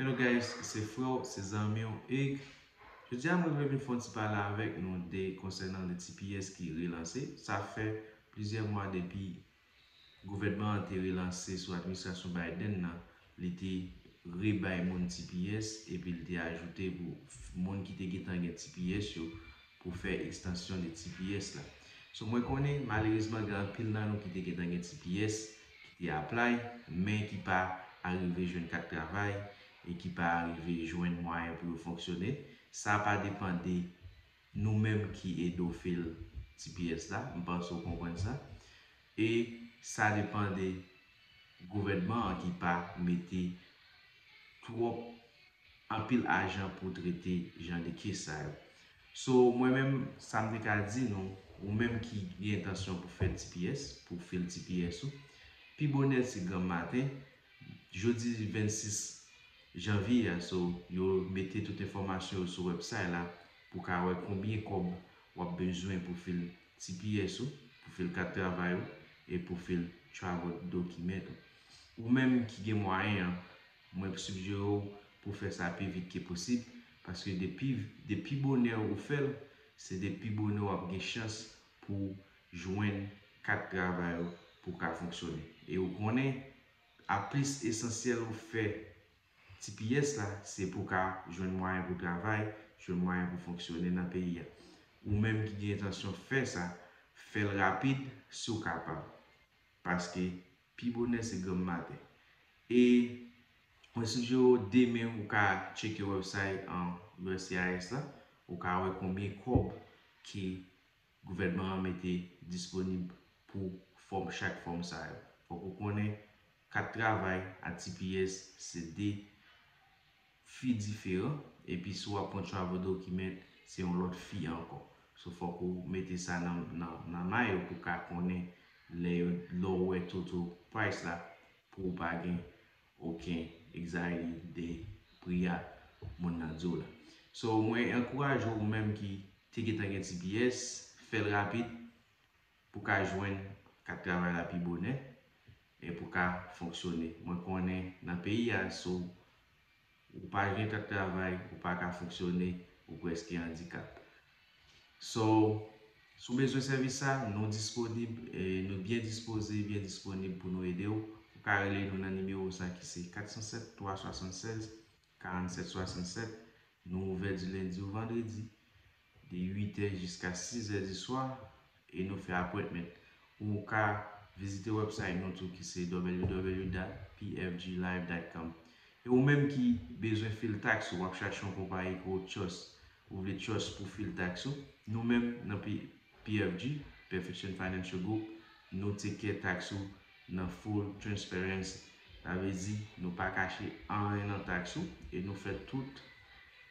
Hello guys se frèw se zanmiw Hugues Jodi a mwen vle vin fè yon ti pale avèk nou de konsènan le tps ki relanse sa fè plizyè mwa depi gouvènman an te relanse sou administrasyon Biden nan li te re bay moun tps epi li te ajoute pou moun ki te gentan gen tps yo pou fè ekstansyon de tps la so mwen konnen malerezman gen anpil nan nou ki te gentan gen tps ki te apply men ki pa arive jwenn kat travay e ki pa arive jwenn mwayen pou yo fonksyone sa pa depan de nou menm ki edo fil tps la m panse w konprann sa. E sa depan de gouvènman an ki pa mete twòp anpil ajan pou trete jan de kes sa yo. So mwen menm sa m te ka di nou, ou menm ki gen entansyon pou fè tps, pou fil tps ou, pi bonè se granm maten, jodi 26 janvye a so yo mete tout enfòmasyon yo sou wèbsay la pou ka wè konbyen kòb w ap bezwen pou fil tps ou, pou fil kat travay ou e pou fil travel document ou. Ou menm ki gen mwayen an, mwen sigjere w pou w fè sa pi vit ke posib, paske de pi bonè ou fè l, se de pi bonè w ap gen chans pou w jwenn kat travay ou pou w ka fonksyone. E ou konnen, a plis esansyèl ou fè Tps la se pou w ka jwenn mwayen pou travay, jwenn mwayen pou fonksyone nan peyi a. Ou menm ki gen entansyon fè sa, fè l rapid si w kapab. Paske pi bonè se granm maten. E mwen sijere w demen ou ka tcheke websay uscis la, ou ka wè konbyen kòb ke gouvènman an mete disponib pou fòm chak fòm sa yo. Fòk ou konnen Kat travay a tps se de fi diferan epi si w ap pran travel document se yon lòt fi ankò. So fòk ou mete sa nan may ou pou w ka konnen lè yo lè w wè total price la pou w pa gen oken anxiety de pri a moun nan di w la. So mwen ankouraje w ou menm ki te gentan gen tps fè l rapid. Pou ka jwenn kat travay la pi bonè e pou ka fonksyone. Mwen konnen nan peyi a si w ou pa gen kat travay ou pa ka fonksyone ou prèske andikap. So si w bezwen sèvis sa nou disponib e nou byen dispoze byen disponib pou nou ede w. Ou ka rele nou nan nimewo sa ki se 407 376 47 67. Nou ouvè di lendi ou vandredi de 8 è jiska 6 è di swa e nou fè apwentment ou ka vizite website nou tou ki se www dat pfglive dat com e ou menm ki bezwen fil tax ou wap chache yon konpayi ke ou trust ou vle trust pou fil tax ou nou menm nan pfg Perfection Financial Group nou take care tax ou Nan full transparency. Sa vle di nou pa kache anyen nan tax ou e nou fè tout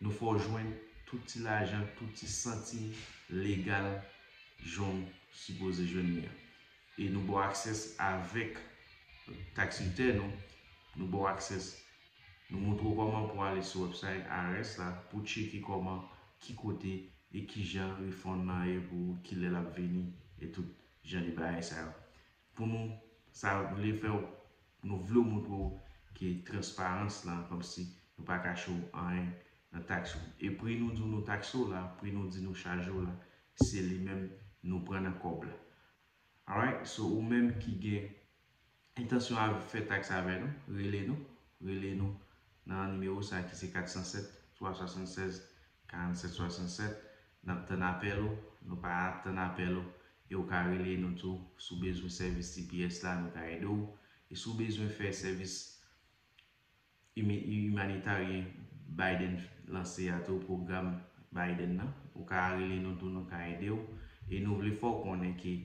nou fè w jwenn tout ti lajan, tout ti santim legal jan w sipoze jwenn li an. E nou ba w access avèk tax return ou, nou ba w access, nou montre w kòman pou w ale sou website IRS la pou w tcheke kòman, ki kote e kijan refund lan ye pou ou, kilè l ap vini e tout jan de bagay sa yo. Pou nou sa vle fè w nou vle w montre w ke transparans lan kòmsi nou pa kache w anyen nan tax ou e pri nou di w nou taxe w la pri nou di nou chaje w la se li menm nou pran nan kòb la alright so ou menm ki gen entansyon al fè tax avè nou rele nou rele nou nan nimewo sa ki se 407 376 47 67 nap tann apèl ou nou pa ap tann apèl ou e ou ka rele nou tou si w bezwen sèvis tps la nou ka ede w e si w bezwen fè sèvis imanitaryen Biden lanse a tou pwogram Biden nan ou ka rele nou tou nou ka ede w e nou vle fè w konnen ke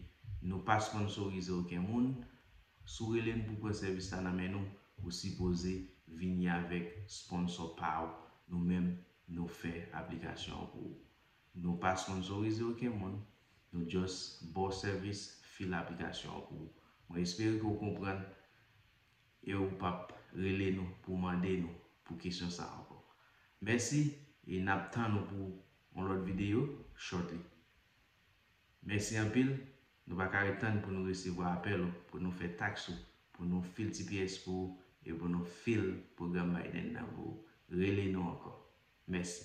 nou pa sponsorize oken moun si w rele n pou pran sèvis la nan men nou ou sipoze vini avèk sponsò pa w nou menm Nou fè aplikasyon an pou ou. Nou pa sponsorize oken moun, nou just ba w sèvis fil aplikasyon an pou ou. Mwen espere ke w konprann e w pa p rele nou pou w mande nou pou kesyon sa a ankò. Mèsi e n ap tann ou pou yon lòt videyo shortly. Mèsi anpil, nou pa ka ret tann pou nou resevwa apèl ou pou nou fè taks ou, pou nou fil tps pou ou e pou nou fil pwogram Biden nan pou ou. Rele nou ankò. Mèsi.